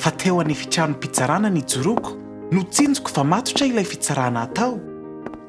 Fa teo an'efitranom-pitsarana nijoroako, notsinjoko fa matotra ilay fitsarana hatao.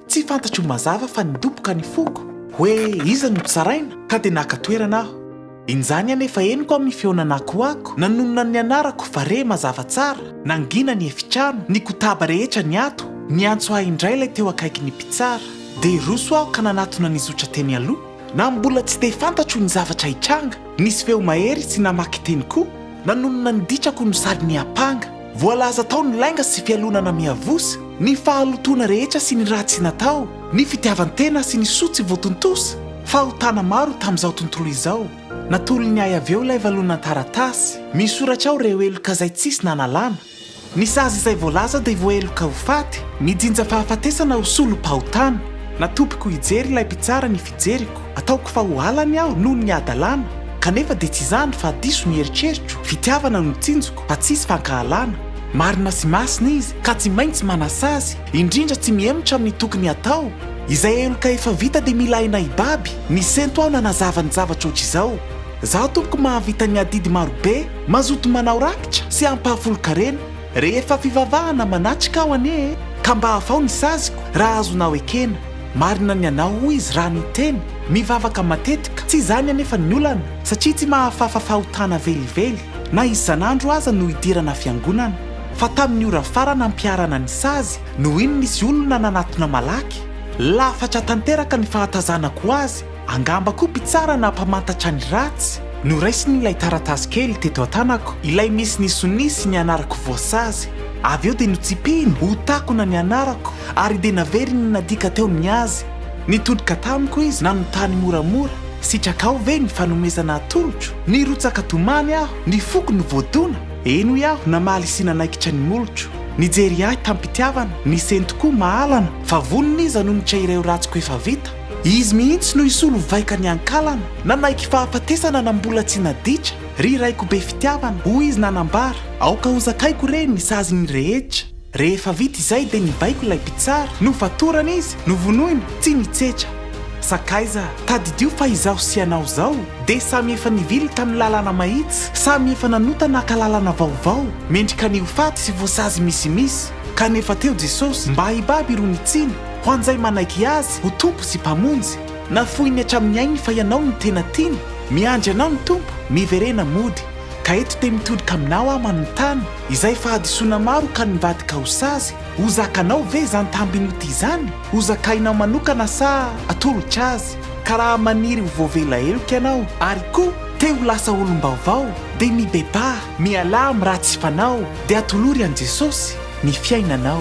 Tsy fantatro mazava fa nidoboka ny foko, hoe iza no tsaraina, ka dia naka toerana aho. Injany anefa henoko amin'ny fihaonan'akoako nanonona ny anarako fa re mazava tsara, nangina ny efitrano, nikotaba rehetra ny ato, niantso ahy indray ilay teo akaiky ny mpitsara. Dia roso aho ka nanatona nizotra teny aloha. Na mbola tsy dia fantatro ny zavatra hitranga, nisy feo mahery tsy namaky teny koa, nanonona ny ditrako no sady niampanga. Voalaza tao ny lainga sy fialonana miavosa, ny fahalotoana rehetra sy ny ratsy natao, ny fitiavan-tena sy ny soa tsy voatontosa, fahotana maro tamin'izao tontolo izao. Natolony ahy avy eo ilay valon'an-taratasy, misoratra ao ireo heloka izay tsisy nanalana. Ny sazy izay voalaza dia voaheloka ho faty, mijinja fahafatesana ho solom-pahotana. Natopiko hijery ilay mpitsara ny fijeriko, ataoko fa ho halany aho noho ny hadalana, kanefa dia tsy izany fa diso ny eritreritro, fitiavana no tsinjoko fa tsisy fankahalana. Marina sy masina izy ka tsy maintsy manasazy, indrindra tsy mihemotra amin'ny tokony hatao. Izay heloka efa vita dia mila aina hibaby, nisento aho nanazava ny zavatra ohatr'izao, Zaho tompoko mahavita ny adidy marobe, Mazoto manao rakitra sy ampahafolon-karena rehefa fivavahana manatrika aho anie e! Ka mba avao ny saziko raha azonao ekena. Marina ny anao hoy izy raha niteny, mivavaka matetika, tsy izany anefa ny olana satria tsy mahafafa fahotana velively na isan'andro aza no idirana fiangonana. Fa tamin'ny ora farany ampiharana ny sazy no iny nisy olona nanatona malaky, lafatra tanteraka ny fahatazanako azy, Angamba koa mpitsara na mpamantatra ny ratsy no raisiny ilay taratasy kely teto an-tanako, ilay misy ny sonia sy ny anarako voasazy. Avy eo dia notsipihiny ho takona ny anarako ary dia naveriny nadika teo ny azy. Nitodika tamiko izy nanontany moramora, Sitrakao ve ny fanomezana atolotro? Nirotsaka tomany aho, ny foko no voadona. Eny hoy aho namaly sy nanaikitra ny molotro. Nijery ahy tam-pitiavana, nisento koa mahalana fa vonona izy hanonitra ireo ratsiko efa vita. Izy mihitsy no hisolo vaika ny ankalana, nanaiky fahafatesana na mbola tsy naditra, ry raiko be fitiavana, hoy izy nanambara, aoka ho zakaiko re ny sazin'ny rehetra. Rehefa vita izay dia nibaiko ilay mpitsara, nofatorana izy, novonoina, tsy nitsetra. Sakaiza, tadidio fa izaho sy ianao izao dia samy efa nivily tamin'ny lalana mahitsy, samy efa nanota naka lalana vaovao, mendrika ny ho faty sy voasazy misimisy, kanefa teo Jesosy mba hibaby irony tsiny, Ho an'izay manaiky Azy ho Tompo sy Mpamonjy, nafoiny hatramin'ny ainy fa ianao no tena tiany, miandry anao ny Tompo, miverena mody. Ka eto dia mitodika aminao aho manontany, izay fahadisoana maro ka nivadika ho sazy, ho zakanao ve izany tambin'ody izany? Ho zakainao manokana sa atolotra azy? Ka raha maniry ho voavela heloka ianao, ary koa te ho lasa olom-baovao, dia mibebaha, mialà amin'ny ratsy fanao, dia atolory an'i Jesosy ny fiainanao.